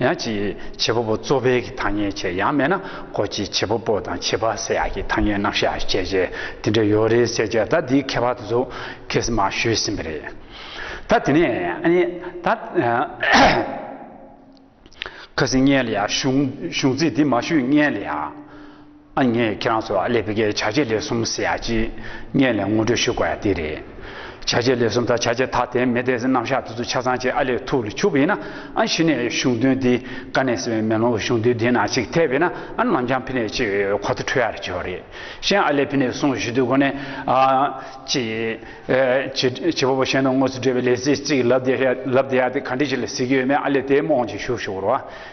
ཡང་ཅིའི་བྱེད་པ་པོ་གཙོ་ཕལ་གྱི་ཐ་སྙད་ཆེ་ཡང་མེད་ན་གོ་ཅིའི་བྱེད་པ་པོ་དང་བྱེད་པ་སེ་ཡ་གྱི་ཐ་སྙད་རྣམ་གཞག་བཤད་བྱའི་དེ་འདྲ་ཡོད་རེད་ཟེར་བྱས་ད་འདིའི་ཁྱད་པར་དུ་ཚུ་གེ་སི་མ་ཞུས་ཟིན་པ་རེད། ད་དེ་ནས་ཨཱ་ནི་ད། ཁ་སི་མངལ་ཡ་གཞུང་ཚིག་འདི་མ་ཞུས་མངལ་ཡ། ཨ་མྱེས་ཁྱེད་རང་ཚོ་ཨ་ལེ་བྷི་ཀའི་བྱ་བྱེད་ལས་གསུམ་ཟེར་ཡག་ཅིག་སྙན་ལས་ངོ་སྤྲོད་ཞུ་དགོས་ཡག་དེ་རེད། བྱ་བྱེད་ལས་གསུམ་དང་བྱ་བྱེད་ཐ་དད་མེད་དེ་རྣམ་གཞག་དེ་ཚོ་ཆ་ཚང་ཅིག་ཨ་ལེ་ཐུགས་ལ་ཆུབ་ཡིན་ན་ཨ་གཞི་ནས་གཞུང་དོན་འདི་ཀ་ནས་ཟེར་བའི་མེ་ལོང་གཞུང་དོན་འདི་ན་ཅིག་ཐེབས་ཡོད་ན་ཨ་ནམ་བྱང་ཕི་ནས་ཅིག་གོ་ཐོ་འཕྲོད་ཡག་རེད་ཆོག་རེད་གཞན་ཨ་ལེ་བྷི་ནས་གསུང་ཞུ་དུས་གོ་ནས་ཨ། ཅིག། བྱེད་པ་པོ་གཞན་དང་དངོས་སུ་འབྲེལ་བའི་ལས་ཚེགས་ཅིག་ལབ་བསྡད་ཡག་དེ་ག་འདྲི་ཞིག་ལ་གཟིགས་ཀྱི་ཡོད་མེད་ཨ་ལེ་དེའི་རྨོངས་ཅིག་ཞུ་ཞུ་རོགས།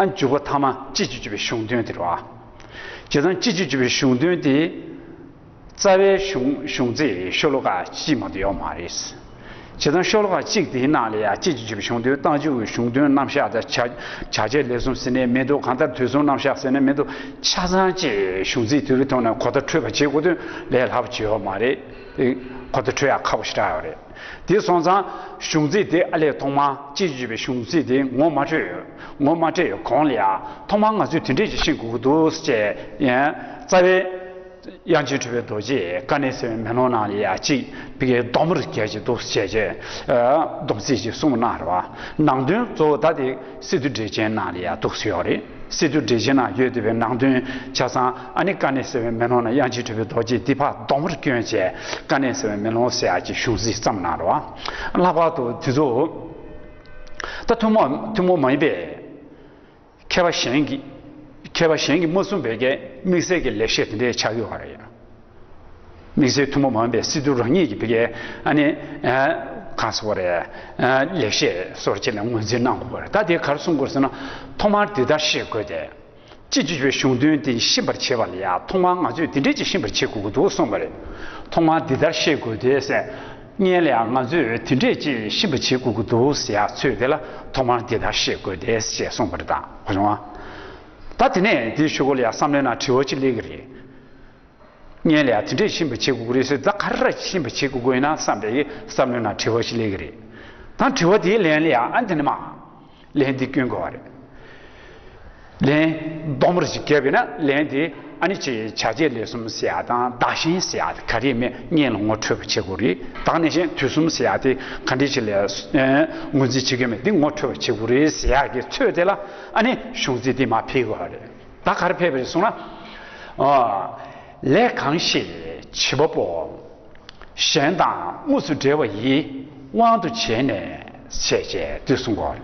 ཨ་འཇུག་པ་ཐ་མ་སྤྱི་བཅུ་བཅུ་པའི་གཞུང་དོན་དེར་བ། བྱེ་ཐང་སྤྱི་བཅུ་བཅུ་པའི་གཞུང་དོན་དེ། རྩ་བའི་གཞུང་གཞུང་ཚིག་ཤོ་ལོ་ཀ་གཅིག་མ་དུ་ཡོག་མ་རེད། བྱེ་ཐང་ཤོ་ལོ་ཀ་གཅིག་དེའི་ནང་ལ་ཡང་སྤྱི་བཅུ་བཅུ་པའི་གཞུང་དོན་རྟགས་འཇུག་གི་གཞུང་དོན་རྣམ་གཞག་དང་བྱ་བྱ་བྱེད་ལས་གསུམ་ཟེར་ནས་མི་འདུག་གང་ལྟར་དུས་གསུམ་རྣམ་གཞག་ཟེར་ནས་མི་འདུག་ཆ་ཚང་བཅས་གཞུང་ཚིག་དེ་བས་ཐོག་ནས་གོ་བརྡ་འཕྲོད་པ་བྱེད་དགོས་དོན་ལས་སླ་པོ་ཆེ་ཡོག་མ་རེད། གོ་བརྡ་འཕྲོད་ཡག་ཁག་པོ་ཞིག་རག་ཡོག་རེད། དེ་སོང་ཙང་གཞུང་ཚིག་དེ་ཨ་ལས་ཐོག་མར་སྤྱི་བརྗོད་པའི་གཞུང་ཚིག་དེ་ངོ་མ་འཕྲོད་ཡོད། ངོ་མ་སྤྲད་ཡོད་གོང་ལ་ཐོག་མར་ང་ཚོས་དེ་འདྲས་ཀྱི་ཤེས་དགོས་ཀྱི་འདུག་ཟེར་ཅེས་རྩ་བའི། དབྱངས་ཅན་གྲུབ་པའི་རྡོ་རྗེས་བཀའ་གནས་ཟེར་བའི་མེ་ལོང་ནང་ལ་ཡ་གཅིག་པའི་སྡོམ་པར་མཁས་ཀྱི་འདུག་ཟེར་ཅེས་སྡོམ་ཚིག་ཅིག་གསུངས་པ་གནང་རོགས། ནང་དོན་གཙོ་བོ་ད་དེ། སི་ཏུ་འབྲས་ཆན་ནང་ལ་ཡང་དུག་སེལ་ཡོད་རེད། སི་ཏུ་འབྲས་ཆན་ནང་ཡོད་དེ་བས་ནང་དོན་ཆ་ཚང་ཨ་ནི་ཀ་ནས་ཟེར་བའི་མེ་ལོང་ན་དབྱངས་ཅི་ཁྲོས་པའི་རྡོ་རྗེ་ཏི་ཕག་གདོང་བར་སྐྱོན་བྱས་ཀ་ནས་ཟེར་བའི་མེ་ལོང་བསྲེགས་ཀྱི་གཞུང་གཟིགས་ཙམ་གནང་རོགས་ཨ། ལྷག་པར་དུ་དེ་ཚོ་ད་ཐུན་མོང་ཐུན་མོང་མ་ཡིན་པས། མཁས་པ་གཞན་གྱིས་མཁས་པ་གཞན་གྱིས་མ་གསུངས་པའི་དམིགས་བསལ་གྱི་ལེགས་བཤད་དེ་འདྲའི་ཆགས་ཡོད་རེད། དམིགས་བསལ་ཐུན་མོང་མ་ཡིན་པའི་སྲིད་ཟུར་རང་ཉིད་ཀྱི་བི་ཀའེ་ནི། གང་ཟེར་བ་རེད། ལེགས་བཤད་སོར་ཕྱེད་ལ་ངོས་འཛིན་གནང་དགོས་པ་རེད་ད་དེ་གར་སོང་དགོས་ཟེར་ན། ཐོག་མར་འདི་ལྟར་ཤེས་དགོས་ཏེ། སྤྱི་བྱེ་བའི་གཞུང་དོན་འདི་ཤེས་པར་བྱེད་པ་ལ་ཡང་ཐོག་མར་ང་ཚོས་འདི་འདྲས་ཅིག་ཤེས་པར་བྱེད་དགོས་ཀྱི་འདུག་གསུངས་པ་རེད། ཐོག་མར་འདི་ལྟར་ཤེས་དགོས་ཏེ་ཟེར། བརྙན་ལ་ཡང་ང་ཚོས་དེ་འདྲས་ཅིག་ཤེས་པར་བྱེད་དགོས་ཀྱི་འདུག་ཟེར་ཡག་ཚོད་དེ་ལ་ཐོག་མར་འདི་ལྟར་ཤེས་དགོས་ཏེ་ཞེས་གསུངས་པ་རེད་ད། ད་དེ་ནས་དེའི་ཆུ་སྐོར་ལ་ཡང་བསམ་ལེན་ན་དྲི་བ་ཅིག་སླེབས་ཀྱི་རེད། བརྙན་ལས་ཡང་དེ་འདྲས་ཤིན་པོ་བྱེད་དགོས་ཀྱི་རེད་ཟེར་ད་ག་རེ་ཤིན་པོ་བྱེད་དགོས་ན་བསམ་པའི་བསམ་བློའི་ནང་དྲི་བ་ཞིག་སླེབས་ཀྱི་རེད་ད་དྲི་བ་དེའི་ལན་ལས་ཡང་དེ་འདྲས་མ་ལན་དེ་སྐྱོན་དགོས་བ་རེད། ལན། ལྡོག་མོ་རེ་ཞིག་བརྒལ་བས་ན་ལན་དེ་ཨ་ནི་ཆེ་བྱ་བྱེད་ལས་གསུམ་བྱེད་ཡག་དང་བདག་གཞན་བྱེད་ཡག་དེ་ག་རེ་མེད་བརྙན་ལ་ངོ་འཕྲོད་པ་བྱེད་དགོས་རེད་ད་ནས་བཞིན་དུས་གསུམ་བྱེད་ཡག་དེ་ག་འདྲས་ཞིག་ལས་ངོས་འཛིན་བྱེད་མཁན་མེད་དེ་ངོ་འཕྲོད་པ་བྱེད་དགོས་རེད་ཟེར་ཡག་གི་ཚོད་དེ་ལ་ཨ་ནི་གཞུང་ཚིག་དེ་མ་ཕེལ་དགོས་བ་རེད། ད་གར་ཕེབས་རེ་སོང་ན། ལས་གང་ཞིག་བྱེད་པ་པོ་གཞན་དང་དངོས་སུ་འབྲེལ་བ་ཡི་དབང་དུ་བྱས་ནས་བྱེད་ཅེས་དུས་གསུང་གོ།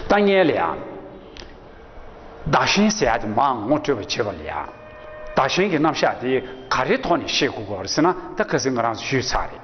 ལྟ་ངན་ལས་ཡང་བདག་གཞན་ཟད་ཡག་དེ་མང་ངོ་སྤྲོད་པ་བྱེད་པ་ལས་ཡང་བདག་གཞན་གྱི་རྣམ་གཞག་དེ་ག་རེའི་ཐོག་ནས་ཤེས་དགོས་སྐོར་ཟེར་ན་ད་ག་ཟེ་ང་རང་ཚོ་ཞུས་ཚར་རེད།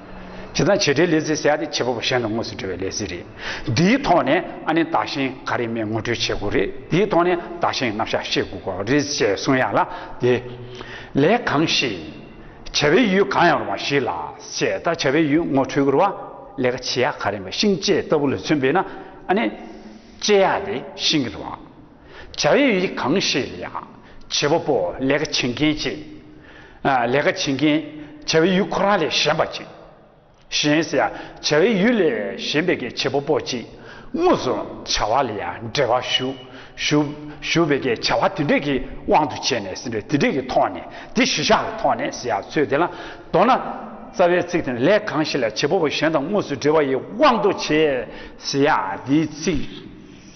བྱེད་དང་བྱེད་འབྲེལ་ལས་ཟེར་བྱ་སྟེ་བྱེད་པ་པོ་གཞན་དང་དངོས་སུ་འབྲེལ་བའི་ལས་ཟེར་རེད། འདིའི་ཐོག་ནས་ཨ་ནེ་བདག་གཞན་ག་རེ་མེད་ངོ་སྤྲོད་བྱེད་དགོས་རེད་དེའི་ཐོག་ནས་བདག་གཞན་རྣམ་གཞག་ཤེས་དགོས་ཀྱི་རེད་ཅེས་གསུངས་ཡ་ལ་དེ། ལས་གང་ཞིག། བྱ་བའི་ཡུལ་གང་ཡང་རུང་བ་ཞིག་ལ་བྱས་ད་བྱ་བའི་ཡུལ་ངོ་འཕྲོད་དགོས་རུང་བ་ལས་ཀ་བྱེད་ཡ་ག་རེ་མེད་ཤིང་བཅད་ལྟ་བུ་ལ་མཚོན་པས་ན་ཨ་ནེ། བཅད་ཡ་དེ་ཤིང་གི་རུང་བ། བྱ་བའི་ཡུལ་གང་ཞིག་ལ་ཡང། བྱེད་པ་པོ་ལས་ཀ་བྱེད་མཁན་གཅིག། ལས་ཀ་བྱེད་མཁན། བྱ་བའི་ཡུལ་ཁོ་རང་ལས་གཞན་པ་གཅིག། གཞན། བྱ་བའི་ཡུལ་ལས་གཞན་པའི་ཀའི་བྱེད་པ་པོ་གཅིག། དངོས་སུ་བྱ་བ་ལ་ཡང་འབྲེལ་བ་ཞུགས། བའི་ཀའི་བྱ་བ་དེ་འདྲས་ཀྱི་དབང་དུ་བྱས་ནས་ཟིན་པས་དེ་འདྲས་ཀྱི་ཐོག་ནས་དེ་གཞི་བཞག་གི་ཐོག་ནས་ཟེར་ཡག་ཚུལ་དེ་ལ། མདོར་ན། རྩ་བའི་ཚིག་དེ་ནི་ལས་གང་ཞིག་ལ་བྱེད་པ་པོ་གཞན་དང་དངོས་སུ་འབྲེལ་བ་ཡི་དབང་དུ་བྱས། ཟེར་ཡག་འདིའི་ཚིག།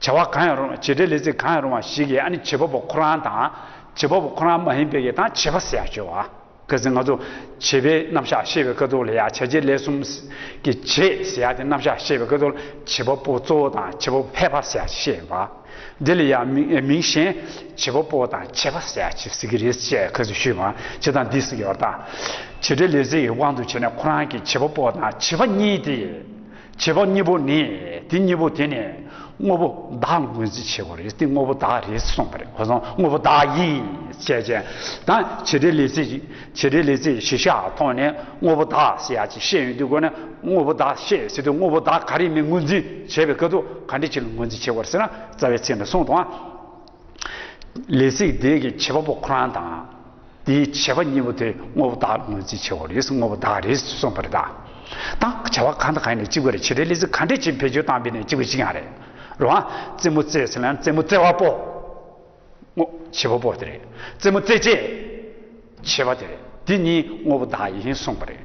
བྱ་བ་གང་ཡང་རུང་བ་བྱེད་འབྲེལ་ལས་ཚིག་གང་ཡང་རུང་བ་ཞིག་གིས་ཨ་ནི་བྱེད་པ་པོ་ཁོ་རང་དང། བྱེད་པ་པོ་ཁོ་རང་མ་ཡིན་པའི་དང་བྱེད་པ་སེ་ཡང་བཅོལ་བ། གལ་སྲིད་ང་ཚོ། བྱེད་པའི་རྣམ་གཞག་ཤེས་པའི་ཀ་ཐོག་ལ་ཡང་བྱ་བྱེད་ལས་གསུམ། གྱི་བྱེད་སེ་ཡང་དེ་རྣམ་གཞག་ཤེས་པའི་ཀ་ཐོག་ལ་བྱེད་པ་པོ་གཙོ་བོ་དང་བྱེད་པ་པོ་ཕལ་པ་སེ་ཡང་ཤེས་པ། འདི་ལ་ཡང་མིང་གཞན། བྱེད་པ་པོ་དང་བྱེད་པ་སེ་ཡང་ཟེར་གྱི་རེད་ཅེས་ཁ་ཚུལ་ཞུས་པ། བྱེད་དང་འདི་སོགས་ཀྱི་བར་དག། བྱེད་འབྲེལ་ལས་ཚིག་གི་དབང་དུ་བྱས་ནས་ཁོ་རང་གིས་བྱེད་པ་པོ་དང་བྱེད་པ་གཉིས་ཏེ། བྱེད་པ་གཉིས་པོ་ནི་དེ་གཉིས་པོ་དེ་ནི་དངོས་པོ་བདག་ལ་ངོས་འཛིན་བྱེད་པ་རེད་དེ་དངོས་པོ་བདག་རེད་གསུངས་པ་རེད་གོ་སོང་དངོས་པོ་བདག་ཡིན་ཞེས་ཀྱི་ད་བྱེད་འབྲེལ་ལས་ཚིག་བྱེད་འབྲེལ་ལས་ཚིག་བཞི་ཤ་ཐོག་ནས་དངོས་པོ་བདག་ཞེས་ཡ་ཅིག་བཤད་ཡོད་དུས་གོ་ནས་དངོས་པོ་བདག་བཤད་ཟེར་དུས་དངོས་པོ་བདག་ག་རེ་མིན་ངོས་འཛིན་བྱེད་པའི་སྐབས་སུ་ག་འདྲི་ཅིག་ལ་ངོས་འཛིན་བྱེད་དགོས་རེད་ཟེར་ན་རྩ་བའི་ཚིག་འདི་གསུངས་དང། ལས་ཚིག་དེ་གི་བྱེད་པ་པོ་ཁོ་རང་དང། དེའི་བྱེད་པ་གཉིས་པོ་དེ་དངོས་པོ་དག་ངོས་འཛིན་བྱེད་པ་རེད་དངོས་པོ་དག་རེད་གསུངས་པ་རེད་ད། དང་བྱ་བ་གང་དང་གང་ཡིན་ནས་གཅིག་པུ་རེད་བྱེད་སྒྲའི་ལས་ཚིག་གང་འདྲས་ཀྱིས་བེད་སྤྱོད་བཏང་པས་ནས་གཅིག་པུ་གཅིག་ཡང་རེད། རོ་ཨ། རྩེད་མོ་རྩེས་ཟེར་ན་རྩེད་མོ་རྩེ་བ་པོ། དངོས། བྱེད་པ་པོ་དེ་རེད། རྩེད་མོ་རྩེ་བྱེད། བྱེད་པ་དེ་རེད་དེ་གཉིས་དངོས་པོ་དག་ཡིན་གསུངས་པ་རེད།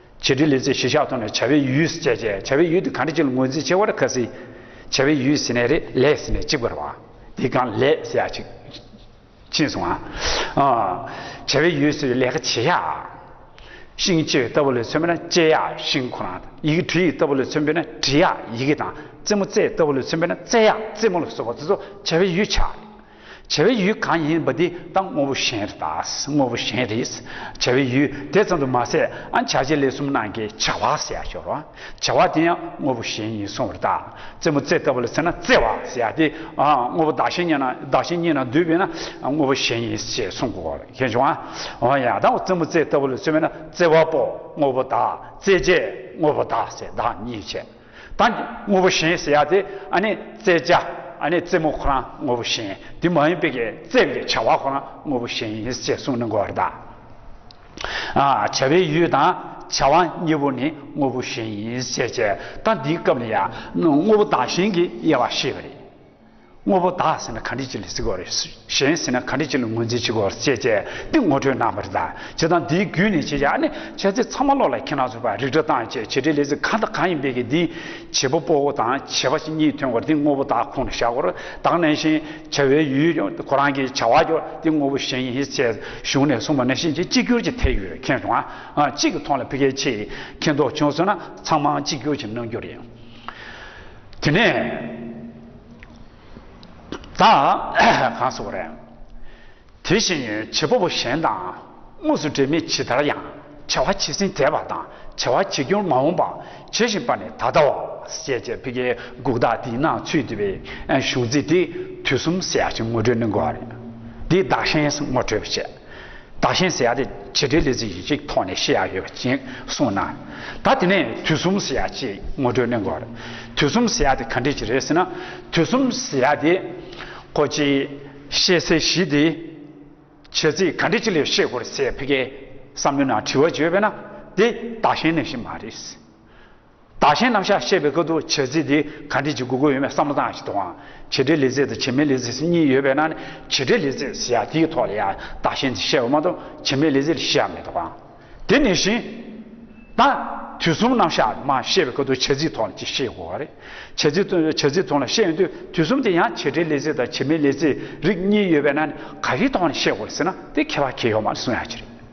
བྱེད་འབྲེལ་ལས་ཚེ་གཞི་ཆགས་ཐོག་ནས་བྱ་བའི་ཡུལ་སྤྱད་ཆ་བྱ་བའི་ཡུལ་དུ་གང་འབྲེལ་བྱེད་ལ་ངོས་འཛིན་བྱེད་བར་ཁ་ཟི། བྱ་བའི་ཡུལ་ཟེར་ནས་རེ་ལས་ཟེར་ནས་གཅིག་པར་བ། དེ་གང་ལས་ཟེར་ཡག་ཅིག། ཕྱིན་སོང་ང། བྱ་བའི་ཡུལ་ཟེར་བའི་ལས་ཀ་བྱེད་ཡག། ཤིང་སྤྱད་ལྟ་བུ་ལས་མཚོན་པས་ན་སྤྱད་ཡག་ཤིང་ཁོ་ན། ཡི་གེ་བྲི་ཡི་ལྟ་བུ་ལས་མཚོན་པས་ན་བྲི་ཡག་ཡི་གེ་དང། རྩེད་མོ་རྩེ་ལྟ་བུ་ལས་མཚོན་པས་ན་རྩེ་ཡག་རྩེད་མོ་ལ་སོགས་པ་དེ་ཚོ་བྱ་བའི་ཡུལ་ཆགས། བྱ་བའི་ཡུལ་གང་ཡིན་པ་དེ་དང་དངོས་པོ་གཞན་རེད། དངོས་པོ་གཞན་རེད། བྱ་བའི་ཡུལ་དེ་ཙམ་དུ་མ་ཟད་ཨ་བྱ་བྱེད་ལས་གསུམ་ནང་གི་བྱ་བ་ཟེར་ཡག་ཤོར། བྱ་བ་དེ་ཡང་དངོས་པོ་གཞན་ཡིན་སོང་བར་བལྟ། རྩེད་མོ་རྩེ་ལྟ་བུ་ལ་ཟེར་ན་རྩེ་བ་ཟེར་ཡག་སྟེ། དངོས་པོ་བདག་གཞན་གཉིས་ན་འདུས་པས་ན་དངོས་པོ་གཞན་ཡིན་ཞེས་གསུང་གོ། ཤེས་བྱུང་ཨ། ཡང་དག་པ་རྩེད་མོ་རྩེ་ལྟ་བུ་ལ་ཟེར་བས་ན་རྩེ་བ་པོ་དངོས་པོ་བདག་རྩེད་བྱེད་དངོས་པོ་བདག་ཟེར་བདག་གཉིས་བྱེད། དང། དངོས་པོ་གཞན་ཟེར་ཡག་དེ། ཨ་ནི་རྩེད་བཅའ། ཨ་ནི་རྩེད་མོ་ཁོ་རང་དངོས་པོ་གཞན། དེ་མ་ཡིན་པའི་གི་རྩེད་པའི་བྱ་བ་ཁོ་རང་དངོས་པོ་གཞན་ཡིན་ཅེས་གསུངས་ནི་གོ་བརྡ། བྱ་བའི་ཡུལ་དང་བྱ་བ་གཉིས་པོ་ནི་དངོས་པོ་གཞན་ཡིན་ཅེས་བྱས། ད་འདིའི་སྐབས་ནི་ཡང་དངོས་པོ་དང་གཞན་གྱི་དབྱེ་བ་ཤེས་པ་རེད། དངོས་པོ་དག་ཟིན་ན་གང་དྲིས་ཅི་ལས་གཟིགས་བར་གཞན་ཟིན་ན་གང་དྲིས་ཅི་ལས་ངོས་འཛིན་བྱེད་དགོས་བར་བཅས་བྱས་ཏེ་ངོ་སྤྲོད་གནང་བར་གདའ། བྱེད་སྟངས་འདིའི་བརྒྱུད་ནས་བྱེད་བྱ་ནི་འཆད་ཚིག་ཚང་མ་བློ་ལ་ཁེལ་ན་ཚོར་བ་རིག་སྒྲ་གདངས་བཅས་བྱེད་བྲིས་ལས་ཚིག་གང་དང་གང་ཡིན་པའི་གི་འདིའི་བྱེད་པོ་སྤོ་བོ་དང་བྱེད་པ་གཉིས་ཐོན་བར་དེ་དངོས་པོ་དག་ཁོང་དུ་བཞག་གོ། དག་ནས་བཞིན་བྱ་བའི་ཡུལ་ཡོད་ཀྱང་ཁོ་རང་གི་བྱ་བ་ཡོད་དེ་དངོས་པོ་གཞན་ཡིན་ཞེས་གཞུང་ནས་གསུངས་པ་ནི་གཤིན་རྗེ་གཅིག་གྱུར་གྱི་ཐད་ཡོད་མཁན་བྱུང་ན་གཅིག་གི་ཐོག་ལ་ཕི་ཀའི་ཆེད་མཁས་མདོག་བྱུང་ཟེར་ན་ཚང་མ་གཅིག་གྱུར་གྱི་གནང་རྒྱུ་རེད། དེ་ནས་ད་གང་སོང་རན། དེ་བཞིན་བྱེད་པོ་པོ་གཞན་དང་དངོས་སུ་འབྲེལ་མེད་ཇི་ལྟར་ཡང་བྱ་བ་བྱས་ཟིན་དད་པ་དང་བྱ་བ་བྱེད་རྒྱུར་མ་འོངས་པ་བྱེད་བཞིན་པ་ནི་ད་ལྟ་བ་ཞེས་བྱ་བའི་གེགས་འགུགས་དག་དེའི་ནང་ཚུད་འདུས་པའི་གཞུང་ཚིག་དེ་དུས་གསུམ་ཟད་ཅིང་ངོ་སྤྲོད་ནི་འགོག་རེད། འདི་བདག་གཞན་ངོ་སྤྲོད་བྱེད། བདག་གཞན་ཟེར་ཡག་དེ་བྱེད་འབྲེལ་ལས་ཚིག་ཅིག་ཐོག་ནས་བཤད་ཡག་ཡོད་པ་ཅན་གསུངས་ན། ད་དེ་ནས་དུས་གསུམ་ཟེར་ཡག་ཅེས་ངོ་སྤྲོད་གནོན་དགོས་པ་རེད། དུས་གསུམ་ཟེར་ཡག་དེ་ག་འདྲས་ཅིག་རེད་ཟེར་ན། དུས་གསུམ་ཟེར་ཡག་དེ། ཁོ་ཅི། ཤེས་ཚེ་གཞི་དེ། བྱེད་ཚིག་ག་འདྲས་ཅིག་ལས་ཤེས་དགོས་རེད་ཟེར་ཕི་ཀའི་བསམ་བློའི་ནང་དྲི་བ་བརྗོད་པས་ན་དེ་བདག་གཞན་གནས་གཞི་མ་རེད། བདག་གཞན་རྣམ་གཞག་ཤེས་པའི་སྐབས་འདུ་བྱེད་རྩིས་འདི་ག་འབྲེལ་གྱི་དགོས་མཁོ་ཡོད་མེད་བསམ་བློ་བཏང་ཞིག་དང། བྱེད་འབྲེལ་ལས་རྩིས་དང་བྱེད་མེད་ལས་རྩིས་གཉིས་ཡོད་པས་ན་ནི་བྱེད་འབྲེལ་ལས་རྩིས་ཟེར་ཡང་དེའི་ཐོག་ལ་ཡང་བདག་གཞན་ཟེར་བཤད་པ་མ་གཏོགས་བྱེད་མེད་ལས་རྩིས་ལ་བཤད་ཡ་མེད་དོ། དེ་ནས་བཞིན། ད། དུས་གསུམ་རྣམ་གཞག་མ་ཤེས་པའི་སྐབས་འདུ་བྱེད་རྩིས་ཐོག་ལ་ཅིག་ཤེས་དགོས་པ་རེད། བྱེད་རྩིས་ཐོག་བྱེད་རྩིས་ཐོག་ལ་ཤེས་ཡོང་དུས་དུས་གསུམ་དེ་ཡང་བྱེད་འབྲེལ་ལས་རྩིས་དང་བྱེད་མེད་ལས་རྩིས་རིགས་གཉིས་ཡོད་པས་ན་ནི་ག་རེའི་ཐོག་ནས་ཤེས་དགོས་རེད་ཟེར་ན་དེ་ཁྱད་པར་ཁྱད་ཡོད་མ་རེད་གསུང་ཡ་གྱི་རེད།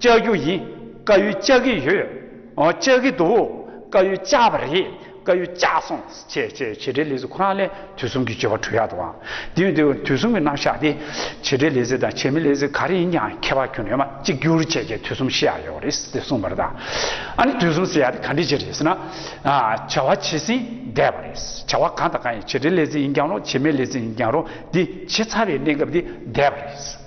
བཅའ་རྒྱུ་ཡིན་བཀའ་ཡུལ་བཅའ་གི་ཡོད་བཅའ་གི་འདུག་བཀའ་ཡུལ་བཅའ་བ་རེད་བཀའ་ཡུལ་བཅའ་སོང་བྱས་བྱས་བྱས་བྲལ་ལས་ཟེར་ཁོ་རང་ལས་དུས་གསུམ་གྱི་སྤྱོད་པ་གྲོལ་ཡག་འདུག་ཨང་དེ་བས་དེ་དུས་གསུམ་གྱི་རྣམ་གཞག་དེ་བྱས་བྲལ་ལས་ཟེར་དང་བྱས་མི་ལས་ཟེར་ག་རེ་ཡིན་ཀྱང་ཁྱད་པར་ཁྱོད་རེ་མ་གཅིག་གྱུར་བྱས་བྱས་དུས་གསུམ་ཤེས་ཡག་ཡོད་རེད་ཟེར་གསུངས་པ་རེད་དང་ཨ་ནི་དུས་གསུམ་ཟེར་ཡག་དེ་ག་འདྲི་བྱས་རེད་ཟེར་ན་བྱ་བ་བྱས་ཟིན་བསྡད་པ་རེད་བྱ་བ་གང་དང་གང་ཡིན་བྱས་བྲལ་ལས་ཟེར་ཡིན་ཀྱང་རུང་བྱས་མེད་ལས་ཟེར་ཡིན་ཀྱང་རུང་དེ་བྱས་ཚར་བའི་གནས་སྐབས་དེ་བསྡད་པ་རེད།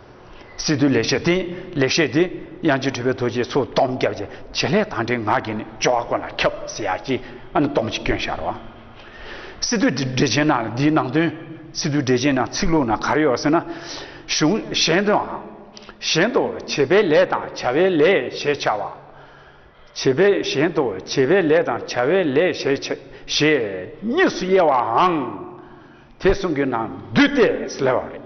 སི་ཏུ་ལེགས་བཤད་དེ་ལེགས་བཤད་དེ་དབྱངས་ཅན་ཁྲོས་པའི་རྡོ་རྗེའི་ཚོགས་སྟོང་རྒྱབ་ཀྱི་བྱེད་ལས་དང་འབྲེལ་ངག་གིས་ནི་སྦྱོར་བ་ཀུན་ལ་ཁྱབ་ཟེར་ཡག་གི་ཨ་ནི་སྟོང་གི་སྐྱོན་ཤར་བ། སི་ཏུ་འགྲེལ་ཆེན་ནང་ལ་འདིའི་ནང་དོན་སི་ཏུ་འགྲེལ་ཆེན་ནང་ཚིག་ལུགས་ནང་གར་ཡོད་ཟེར་ན། གཞུང་གཞན་དུའང། གཞན་དུ་བྱེད་པའི་ལས་དང་བྱ་བའི་ལས་ཞེས་བྱ་བ། བྱེད་པའི་གཞན་དུ་བྱེད་པའི་ལས་དང་བྱ་བའི་ལས་ཞེས་ཞེས་གཉིས་སུ་དབྱེ་བའང་དེ་གསུམ་གྱི་ནང་བསྡུས་ཏེ་ལས་བ་རེད།